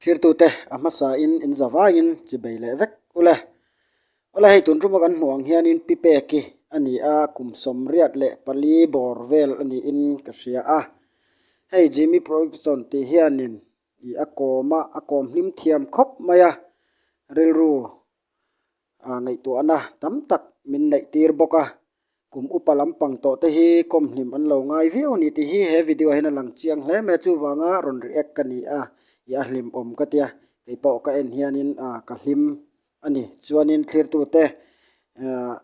Thirtute, a hmasain in za vangin chi bei leh vek u le. Awle hei tun ruma kan hmuh ang hianin pi peki a ni a, kum sawmriat leh pali bawr vel a niin ka hria a. Hei Jimmy Proyctson tih hianin ih a kawm a, a kawm hlim thiam khawp mai a. Rilru a ngaihtuahna tam tak min neih tir bawk a, kum upa lampang tawh te hi khawm hnim an lo ngai viau a ni tih hi he video ah hian a lang chiang hle mai a, chuvanga rawn react ka ni a, i a hlim awm ka tia kei pawh ka en hianin ka hlim a ni chuanin thlir tute ahh.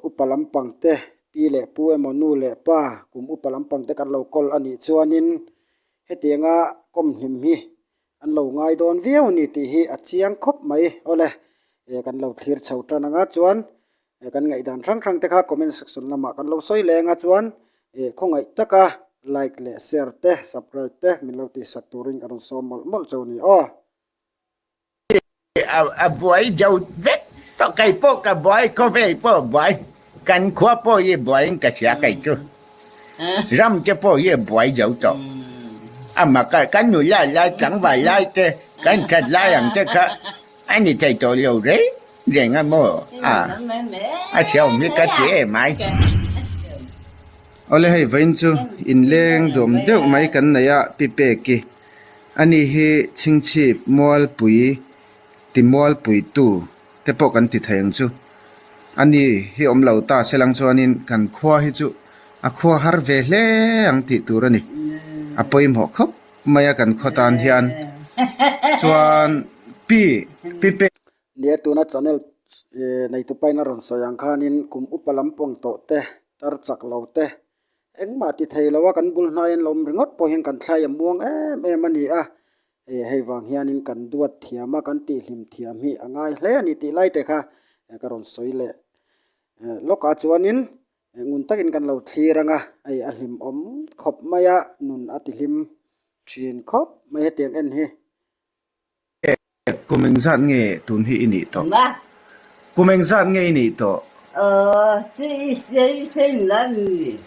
upa lampang te, pi leh pu emaw nu leh pa, kum upa lampang te kan lo call a nih chuanin hetianga kawmhnim hi an lo ngai dawn viau a ni tih hi a chiang khawp mai aw le. Kan lo thlir chho tan anga chuan kan ngaihdan hrang hrang te kha comment section lamah kan lo sawi leng a chuan khawngaih taka like leh share te subscribe te min lo tihsat turin ka rawn sawm mawlh mawlh chu a ni aw. a buai jo vek tawh kei pawh ka buai khawvei pawh buai kan khua pawh hi buaiin ka hria kei chu ram te pawh hi buai jo tawh ama ka kan nu lai lai tlangval lai te kan that lai ang te kha a ni thei tawh lo reng reng a maw a a siam hi ka ti em ai awle hei vain chu inleng duam deuh mai kan nei a pi pek i. Anih hi chhingchhip mualpui ti mualpuitu te pawh kan ti thei ang chu. Ani hi awm lo ta se lang chuanin kan khua hi chu a khua har ve hle ang tih tur a ni. A pawimawh khawp mai a kan khaw tan hian chuan pi pi pe. Lia tuna channel neitu paina rawn sawi ang khanin kum upa lam pawng tawh te, tar chak lo te, Engmah ti thei lo a, kan bul hnaiin lo awm ringawt pawh hian kan thlai a muang em em a ni a, e hei vang hianin kan duat thiam a, kan tihhlim thiam hi a ngai hle a ni tih lai te kha ka rawn sawi leh. Lawkah chuanin ngun takin kan lo thlir ang a, hei a hlim awm khawp mai a, nun a tihhlim thin khawp mai hetiang en hi Êêh, kumeng zat nge tun hi i nih tawh? Mah! Kumeng zat nge i nih tawh? Aww, chu i sei seng la ni.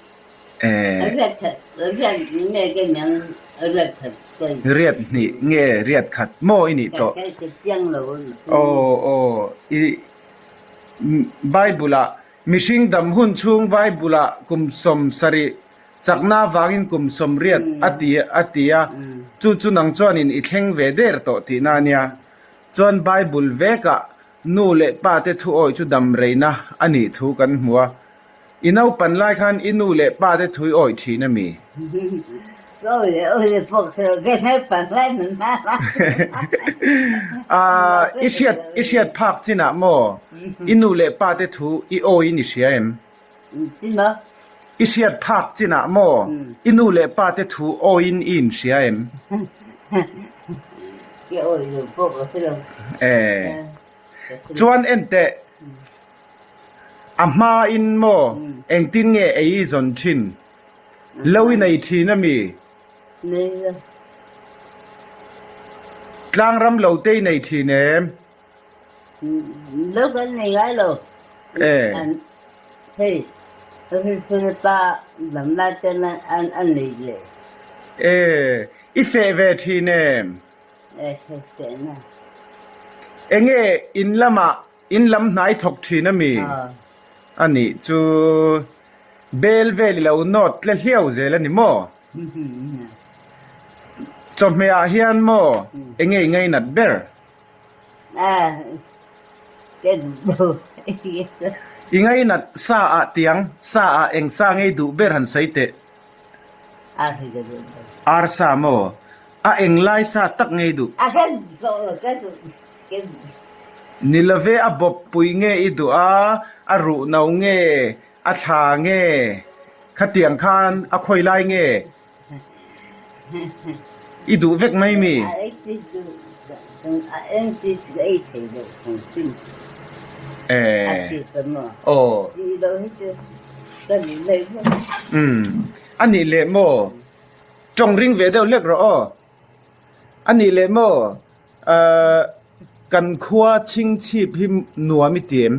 Êêh. Riat khat, riat hnih nge kemiang riat khat kai? Riat hnih nge riat khat maw i nih tawh? Kai ka chiang lo a ni chu. Aww, aww, i Bible-ah mihring dam hun chhung Bible-ah kum sawm sarih Chakna vangin kum sawm riat a ti a ti a, chu chu nang chuanin i thleng ve der tawh tihna a nia. Chuan Bible vekah nu leh pate thuawih chu dam reina a nih thu kan hmu a, i naupan lai khan i nu leh pate thui awih thin a mi? I hriat phak chinah maw i nu leh pate thu i awiin i hria em? I hriat phak chin ah maw i nu le pa te thu awi in i in hria em? Chuan enteh a hma in maw engtin nge ei i zawn thin lo i nei thin a mi? Tlangram lo te i nei thin em? Lo kan nei ngai lo. Eh. An hei. Hei hei pa lam la ten an an nei le. Eh. I fe ve thi ne. Eh hei fe na. Enge in lama in lam hnai thawk thi na mi. Ah. Ani chu bel vel lo not tle hliau zel ani maw. Chawhmeh ah hian maw enge i ngei nat ber. I ngei nat sa ah tiang sa ah eng sa ngei duh ber han sawi teh? Ar sa maw? A eng lai sa tak ngei duh? Ni lo ve a bawp pui nge i duh a, a ruh no nge, a thla nge, khatiang khan a khawi lai nge? I duh vek mai mi? A nih leh maw? Tawng ring ve deuh hlek rawh aw. A nih leh maw? Kan khua chingchhip hi nuam i ti em?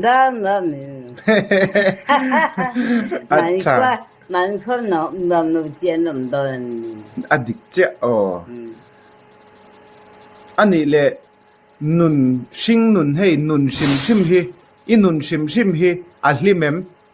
Dar nuam i dik chiah aw. Anih le nun hring nun hei nun hrim hrim hi i nun hrim hrim hi a hlim em?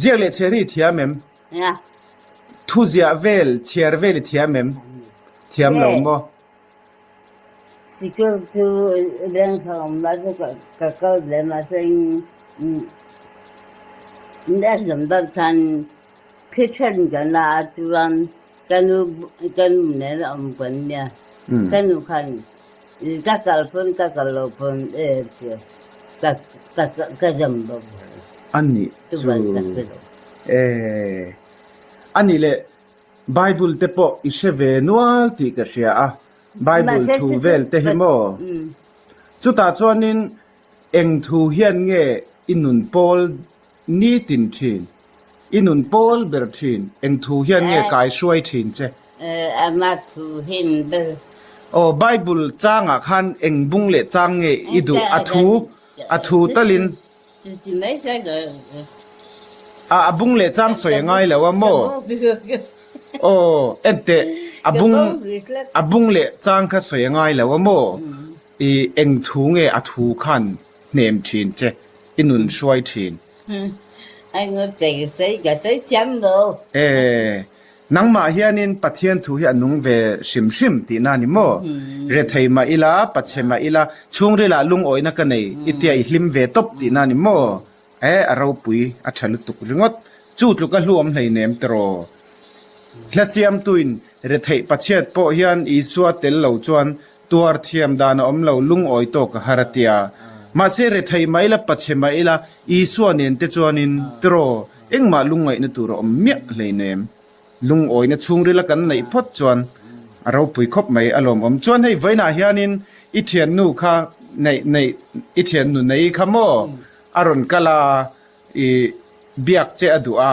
Ziak leh chhiar hi thiam em? Thu ziah vel, chhiar vel hi thiam em? Thiam lo maw? Sikul chu reng thlang awm lai chu ka kal hle a, mahse exam dar khan thli then kan la a, chuan ka nu nena awm kan nia, ka nu khan Ka kalh pawn ka kalh lo pawn e tia ka zam bawk mai. A nih chu e. A nih leh, Bible te pawh i hre ve nual tih ka hria a, Bible thu vel te hi maw? Chutah chuanin eng thu hian nge i nun pawl? Ni tin thin, i nun pawl ber thin, eng thu hian nge kai hruai thin che? Ama thu hian ber. Aw, Bible changah khan eng bung leh chang nge i duh? A thu, a thu talin. Chu ti mai chuan ka hria. A bung leh chang sawi a ngai lo a maw? Aw, enteh, a bung, a bung leh chang kha sawi a ngai lo a maw? I eng thu nge a thu khan hnem thin che, i nun hruai thin. I nu tei sei ka sawi thiam lo. E, nangmah hianin Pathian thu hi a nung ve hrim hrim tihna a ni maw? Rethei mah ila, pache mah ila, chhungrilah lungawina ka nei i tia i hlim ve tawp tihna a ni maw? E, a ropui a tha lutuk ringawt. Chu tluk a hluam hleinem tawh raw. Hla siamtuin Rethei pachiat pawh hian Isua tel lo chuan Tuar thiam dan a awm lo, lungawi tawk a har a ti a. Mahse, rethei mai ila, pache mai ila Isua nen te chuanin tiraw, engmah lungngaihna tur a awm miah hlein em? Lungawina chhungrila kan neih phawt chuan a ropui khawp mai a lawmawm. Chuan hei vawiinah hianin i thiannu kha neih neih, i thiannu nei kha maw a rawn kal a, i biak che a duh a.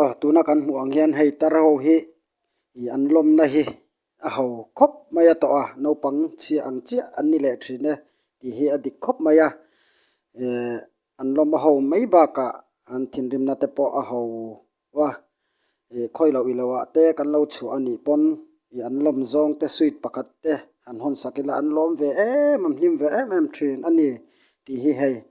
a tuna kan hmuh ang hian hei tar ho hi ih an lawmna hi a ho khawp mai a tawh a naupang chhia ang chiah an ni leh thin e tih hi a dik khawp mai a eh an lawma ho mai bakah an thinrimna te pawh a ho a ih khawi loh i lo ah te kan lo chhuah a nih pawn ih an lawm zawng te sweet pakhat te han hawn sak ila an lawm ve em an hlim ve em em thin a ni tih hi hei--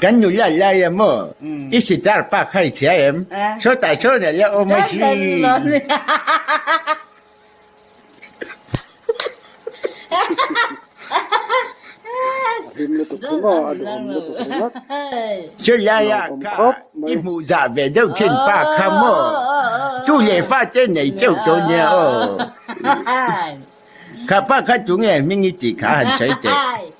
Kan nu lal lai em aw? I sitar pa kha i chhia em? Sawtah sawn a la awm a si. Chulai ah kha i hmuhzah ve deuh thin pa kha maw? Tu leh fa te nei teuh tawh nia aw. Kha pa kha tunge a hming i tih kha han sawi teh.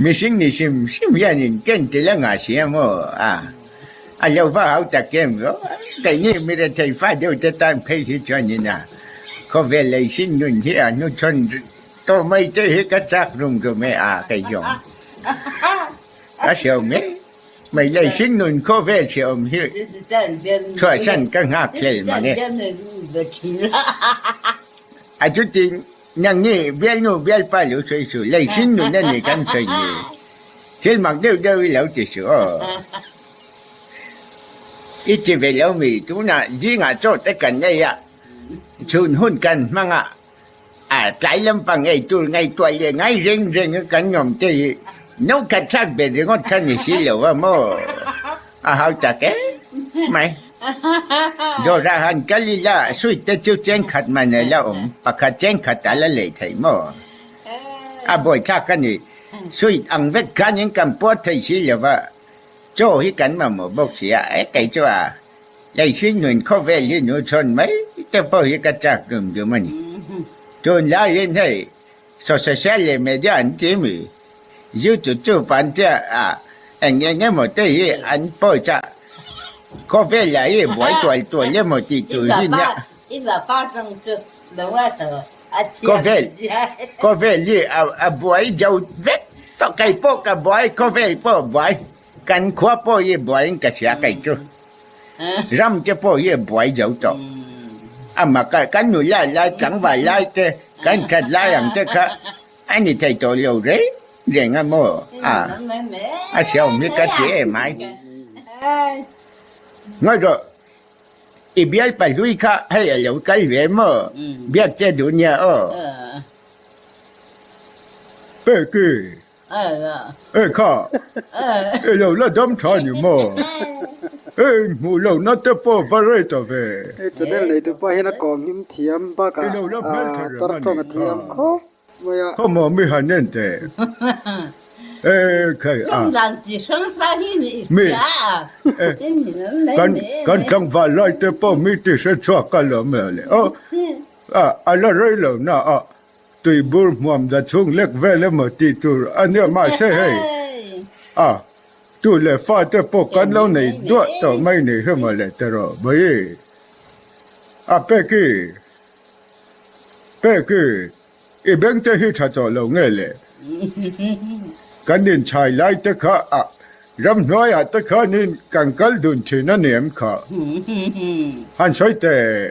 Mihring ni hrim hrim hianin ken ti la ngah si ang aw a, a lo va hau ta kem lo a, keini mi rethei fa deuh te tan phei hi chuanin a khawvel lei hring nun hi a hnu thawn tawh mai te hi ka chak rum rum e a, kei zawng ka hriau mai mai lei hring nun khawvel hrehawm hi chhuahsan ka nghak hlel mang e. A chutin Nang nge bialnu bialpa lo sawi chu lei hring nun a ni kan sawi ni? Thil mak deuh deuh i lo ti chu aw. I ti ve lo mi tunah zingah chawhte kan nei a, chhun hun kan hmang a, a tlai lampang ngei tur ngaihtuah leh ngai reng reng a kan awm te hi naukkhat thlak ber ringawt kha ni si lo va maw? A hau tak em mai. Dora han kal ila, Sweet te chu chenkhat man ala awm, pakhat chenkhat ala lei thei maw? A bawithlak a ni. Sweet ang vek khanin kan puar thei si lo va, chaw hi kan mamawh bawk si a, e kei chu a lei hring nuin khawvel hi nu chhawn mai te pawh hi ka chak dum dum a ni. Tunlaiin hei. Social leh media an ti mi zirtut chu pan tia ah eng eng emaw te hi an post a, khawvel lah hi buai tual tual emaw tih tur hi nia. Khawvel, khawvel hi a buai zo vek tawh, kei pawh ka buai khawvel pawh buai. Kan khua pawh hi buaiin ka hria kei chu. Ram te pawh hi buai zo tawh. Ama kha kan nu lai lai tlangval lai te kan that lai ang te kha a ni thei tawh lo reng reng a maw a? A sia awm hi ka ti em ai. Ngawi rawh, i bialpa hlui kha hei a lo kal ve maw biak che duh nia aw. Peki. Hei kha, i lo la dam tha ni maw? Hei in hmuh lo na te pawh va rei ta ve. Hei Channel neitu pa hian a kawng hlim thiam bak a tar tawng a thiam khawp mai a. Khaw maw mi han en teh? Hei kha i a. Mi kan tlangval lai te pawh mi tihre chhuak ka la meh le. Aw, a la rei lo na a. Tui bur hmuam dan chhung lek vel emaw tih tur a nia mahse hei a tu leh fa te pawh kan lo nei duah tawh mai ni hi maw le terawh bawi a Pecky Pecky i beng te hi tha tawh lo nge le kan inchhai lai te kha a ram hnuai ah te khanin kan kal dun thin a ni em kha han sawi teh.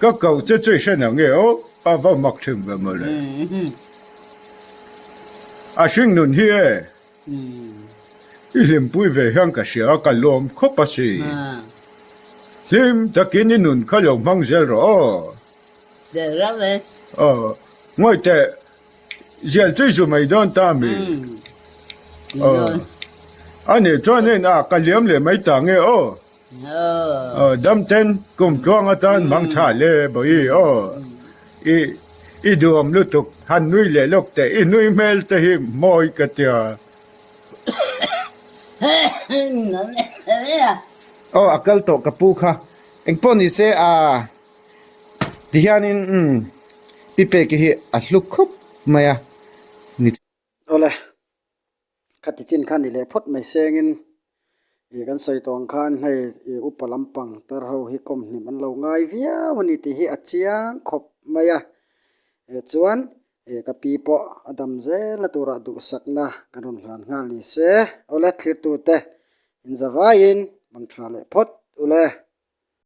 Ka koh che che hran ang e aw, a va mak thin ve maw le. A hring nun hi e, i hlimpui ve hian ka hria a, ka lawm khawp a si. Hlim takin i nun kha lo hmang zel rawh aw. Derh rau e. Aw, ngawih teh, Ziah chu i zu mai dawn ta mi. A neh chuan heng a ka liam leh mai ta nge aw. Damten kum tluang atan hmang tha le Bawihi aw. I i duhawm lutuk han nui leh lawk teh i nui hmel te hi mawi ka tia. Aw a kal tawh ka pu kha. Engpawh ni se a. Tihianin umm, pi peki hi a hluk khawp mai a ni che. Awle, khati chin kha ni leh phawt mai sengin ih kan sawi tawng khan hei ih upa lampang tar ho hi kawm hnim an lo ngai viau a ni tih hi a chiang khawp mai a. Eh chuan ih ka pi pawh a dam zel a tura duhsakna kan rawn hlan nghal ni se. Awle thlir tute, inzavaiin bang tha leh phawt ule.